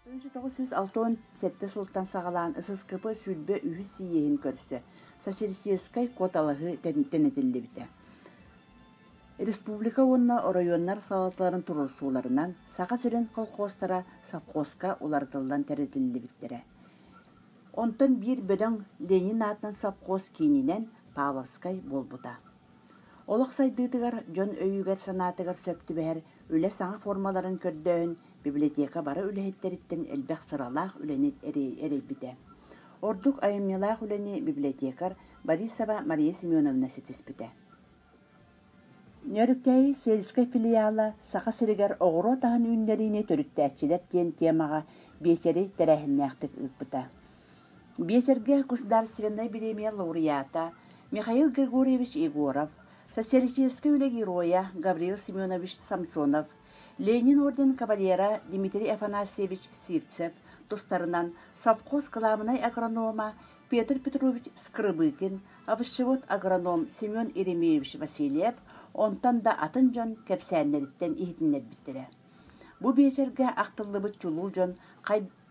Үс жүз тоҕус сүүс алтан сэттэ сылтан саҕалаан ССКП сүүрбэ үһүс сийиэһин көрсө социалистическай куоталаһыы тэнитиллибитэ. Республика уонна оройуоннар салалталарын туруорсууларынан Саха сирин колхозтара совхозка уларытыллан тэрилтиллибиттэрэ. Онтон биир бөдөҥ Ленин аатынан совхоз киининэн Павловскай буолбута. Олох сайдыытыгар, дьон өйүгэр-санаатыгар сөп түбэһэр үлэ саҥа формаларын көрдөөһүн библиотека бары үлэһиттэриттэн элбэх сыралаах үлэни эрэйбитэ. Ордук айымньылаах үлэни библиотекарь Борисова Мария Семеновна ситиспитэ. Ньөрүкээй сельскэй филиала Саха сиригэр оҕуруот аһын үүннэриини төрүттээччилэр диэн тиэмаҕа биэчэрэй тэрээһиннээхтик ыыппыта. Биэсэргэ государственнай бириэмийэ лауреата Михаил Григорьевич Егоров, социалистическай үлэ геройа Гаврил Семенович Самсонов, Ленин орден кавалера Дмитрий Афанасьевич Сивцев тустарынан совхоз кылаабынай агронома Петр Петрович Скрыбыкин, высшевод агроном Семен Еремеевич Васильев, онтон да атын дьон кэпсээннэриттэн иһитиннэрбиттэрэ. Бу биэчэргэ ахтыллыбыт чулуу дьон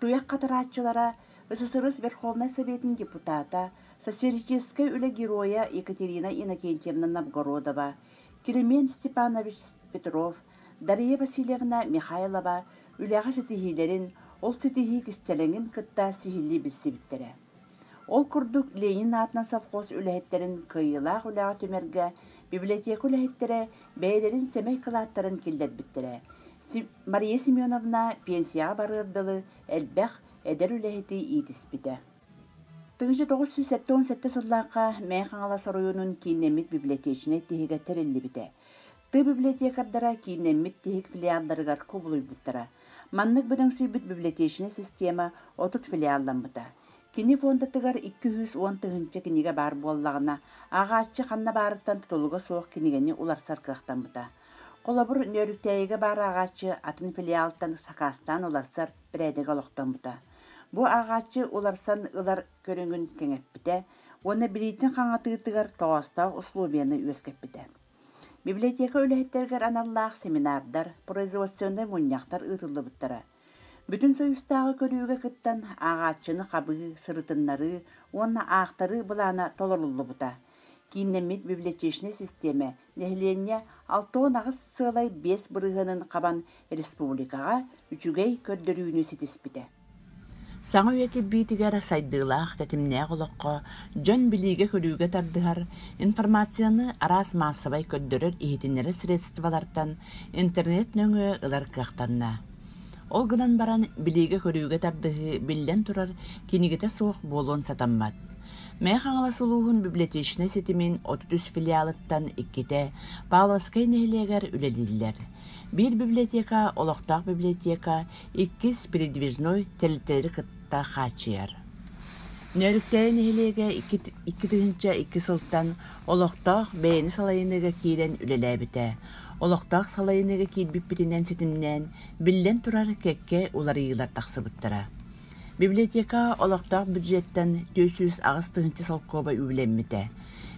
Туйах хатарааччылара ССРС Верховнай Советын депутата, социалистическай үлэ геройа Екатерина Иннокентьевна Новгородова, Климент Степанович Петров, Дария Васильевна Михайлова үлэҕэ ситиһиилэрин, ол ситиһии кистэлэҥин кытта сиһилии билсибиттэрэ. Ол курдук Ленин аатынан совхоз үлэһиттэрин кыайыылаах үлэҕэ түмэргэ библиотека үлэһиттэрэ бэйэлэрин сэмэй кылааттарын киллэрбиттэрэ, Мария Семеновна пенсияҕа барыар дылы элбэх эдэр үлэһити иитиспитэ. Тыгыжы тоҕус сүүс сэттэ уон сэттэ сыллаахха Мэҥэ Хаҥалас оройуонун кииннэммит библиотечнай тиһигэ тэриллибитэ. Тыа библиотекардара кииннэммит тиһик филиалларыгар кубулуйбуттара. Маннык бөдөҥсүйбүт библиотечнай система отут филиалламмыта. Кини фондатыгар икки сүүс уон тыһыынча кинигэ баар буоллаҕына, ааҕааччы ханна баарыттан тутулуга суох кинигэни уларсар кыахтаммыта. Холобур, Нөөрүктээйигэ баар ааҕааччы атын филиалтан сакаастаан уларсар бэрээдэгэ олохтоммута. Бу ааҕааччы уларсан ылар көрүҥүн кэҥэппитэ уонна билиитин хаҥатыытыгар тоҕоостоох усулуобуйаны үөскэппитэ. Библиотека үлэһиттэригэр аналлаах семинардар, производственнай мунньахтар ыытыллыбыттара. Бүтүн Союзтааҕы көрүүгэ кыттан, ааҕааччыны хабыы, сырытыннарыы уонна аахтарыы былаана толоруллубута. Кииннэммит библиотечнай систиэмэ нэһилиэнньэ алта уон аҕыс сыалай биэс бырыһыанын хабан республикаҕа үчүгэй көрдөрүүнү ситиспитэ. Саҥа үйэ кирбиитигэр сайдыылаах, тэтимнээх олоххо, дьон билиигэ-көрүүгэ тардыһар, информацияны араас маассабай көрдөрөр иһитиннэрэр средстволартан интернет нөҥүө ылар кыахтанна. Ол гынан баран билиигэ-көрүүгэ тардыһыы биллэн турар кинигэтэ суох буолуон сатаммат. Мэй Хаҥалас улууһун библиотечнай ситимин 33 филиалыттан иккитэ Павловскай нэһилиэгэр үлэлииллэр. Биир библиотека олохтоох библиотека, иккис передвижной тэрилтэлэри кытта хааччыйар. Нөөрүктээйи нэһилиэгэ икки тыһыынча икки сылтан Олохтоох бэйэни салайыныыга киирэн үлэлээбитэ. Олохтоох салайыныыга киирбиппитинэн ситимнээн, биллэн турар, кэккэ уларыйыылар тахсыбыттара. Библиотека олохтоох бюджеттан түөрт сүүс аҕыс тыһыынча солкуобай үбүлэммитэ.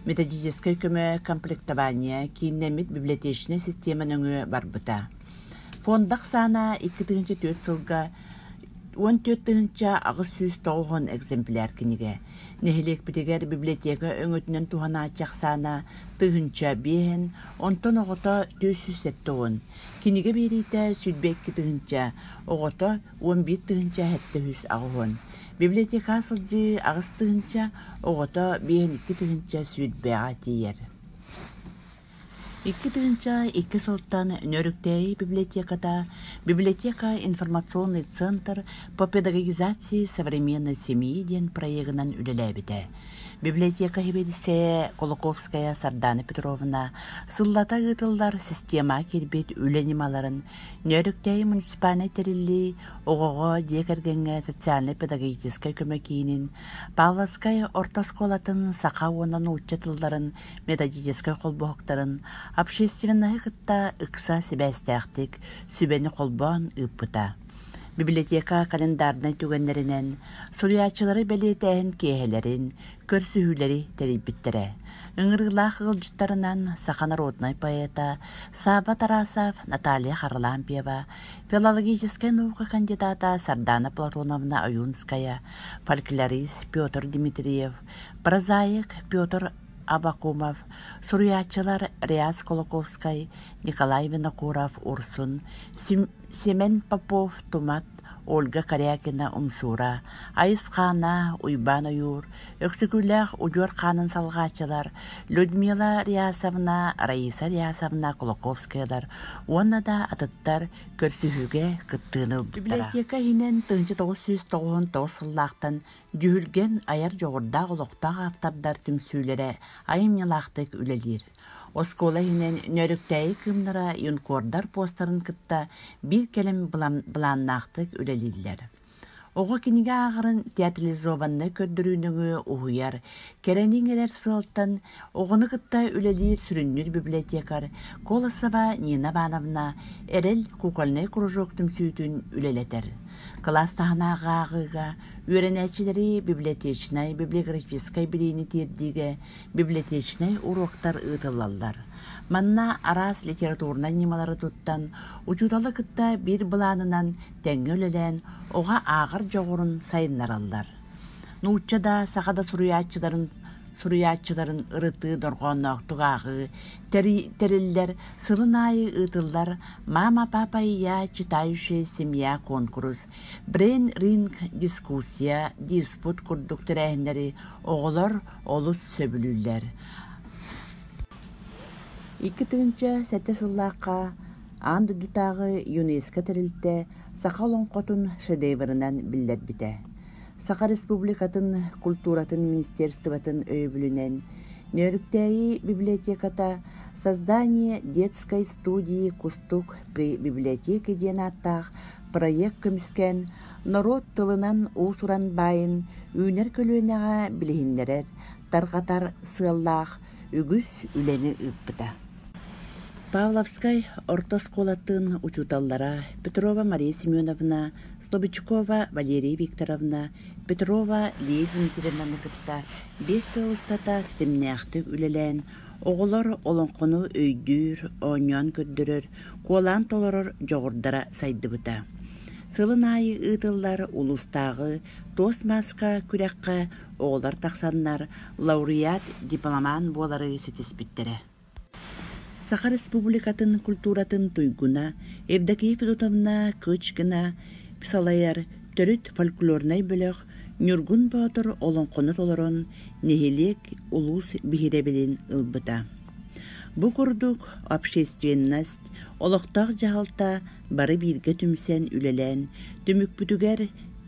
Методическай көмө комплектования кииннэммит библиотечная система нөҥүө барбыта. Фондах саана икки тыһыынча түөрт сылга Уон түөрт тыһыынча аҕыс сүүс тоҕоҕон экземпляр кинигэ. Нэһилиэкпитигэр библиотека өҥөтүнэн туһанааччы ахсаана тыһыынча биэһэн, онтон оҕото төрт сүүс сэттэ уон. Кинигэ биэриитэ сүүрбэ икки тыһыынча, оҕото уон биир тыһыынча сэттэ үс аҕыс уон. Библиотека сылдьыы аҕыс тыһыынча, оҕото биэһэн икки тыһыынча сүүрбэҕэ тиийэр. Икки тыһыынча икки сылтан Нөрүктээйи библиотеката, Библиотека информационный центр по педагогизации современной семьи диэн проегынан үлэлээбитэ. Библиотека һибилисэйэ Кулаковская Сардана Петровна сыллата ыытыллар система кирбит үлэ ньымаларын Нөрүктээйи муниципальной тэриллии оҕоҕо дьиэ кэргэҥҥэ социально-педагогическай көмө киинин, Павловскай орто оскуолатын саха уонна нуучча тылларын методическай холбоһуктарын общественноһы кытта ыкса сибээстээхтик сүбэни холбоон ыыппыта. Библиотека календарнай түгэннэринэн суруйааччылары бэлиэтээһин киэһэлэрин, көрсүһүүлэри тэрийбиттэрэ. Ыҥырыылаах ыалдьыттарынан саха народнай поэта Саба Тарасов Наталья Харлампьева, филологическай наука кандидата Сардана Платоновна Аюнская, фольклорист Петр Дмитриев, прозаик Петр Абакумов, суруйааччылар Реас Кулаковскай, Николай Винокуров-Урсун, Семен Попов-Тумат, Ольга Корякина-Умсуура, Айыс Хаана, Уйбаан Ойуур, Өксөкүлээх Удьуор хаанын салҕааччылар Людмила Реасовна, Раиса Реасовна Кулаковскаялар уонна да атыттар көрсүһүүгэ кыттыыны ылбыттара. Библиотека иһинэн 1999 сыллаахтан Дьүһүлгэн айар дьоҕурдаах олохтоох ааптардар түмсүүлэрэ айымньылаахтык үлэлиир. Оскуола иһинэн Нөрүктээйи кыымнара юнкордар постарын кытта биир кэлим былааннаахтык үлэлииллэр. Оҕо кинигэ ааҕарын театрализованнай көрдөрүүнүгү уһуйар, кэрэниин эрэр суолтан Оҕону кытта үлэлиир сүрүннүүр библиотекарь Колосова Нина Ивановна Эрэл кукольнай кружок түмсүүтүн үлэлэтэр. Кылаас таһынааҕы ааҕыыга үөрэнээччилэри библиотечнай, библиографическай билиини тиэрдиигэ библиотечнай уруоктар ыытыллаллар. Манна араас литературнай ньымалары туттан, учууталы кытта биир былаанынан тэҥҥэ үлэлээн, оҕо ааҕар дьоҕурун сайыннараллар. Нуучча да, саха да суруйааччыларын суруйааччыларын ырытыы дорҕоонноохтук ааҕыы тэриллэр сылын аайы ыытыллар «Мама, папа и я читающая семья» куонкурус, «Брейн-ринг дискуссия» диспут курдук тэрээһиннэри оҕолор олус сөбүлүүллэр. Икки тыһыынча сэттэ сыллаахха аан дойдутааҕы ЮНЕСКО тэрилтэ саха олоҥхотун шедеврынан биллэрбитэ. Саха Республикатын культуратын министерствотын өйөбүлүнэн Нөөрүктээйи библиотеката «Создание детской студии кустук при библиотеке» диэн ааттаах проект көмүскээн норуот тылынан уус-уран баайын үүнэр көлүөнэҕэ билиһиннэрэр, тарҕатар сыаллаах үгүс үлэни ыыппыта. Павловскай орто оскуолатын учууталлара Петрова Мария Семеновна, Слободчакова Валерия Викторовна, Петрова Лия Дмитриевнаны кытта биэс сыл устата ситимнээхтик үлэлээн, оҕолор олоҥхону өйдүүр, оонньоон көрдөрөр, куолаан толорор дьоҕурдара сайдыбыта. Сылын аайы ыытыллар улуустааҕы Туос мааска күрэххэ оҕолор тахсаннар лауреат, дипломан буолары ситиспиттэрэ. Саха Республикатын культуратын туйгуна Евдокия Федотовна Кычкина писалайар төрүт фольклорнай бөлөх Ньургун Боотур олоҥхону толорон нэһилиэк, улуус биһирэбилин ылбыта. Бу курдук общественность, олохтоох дьаһалта бары бииргэ түмсэн үлэлээн, түмүкпүтүгэр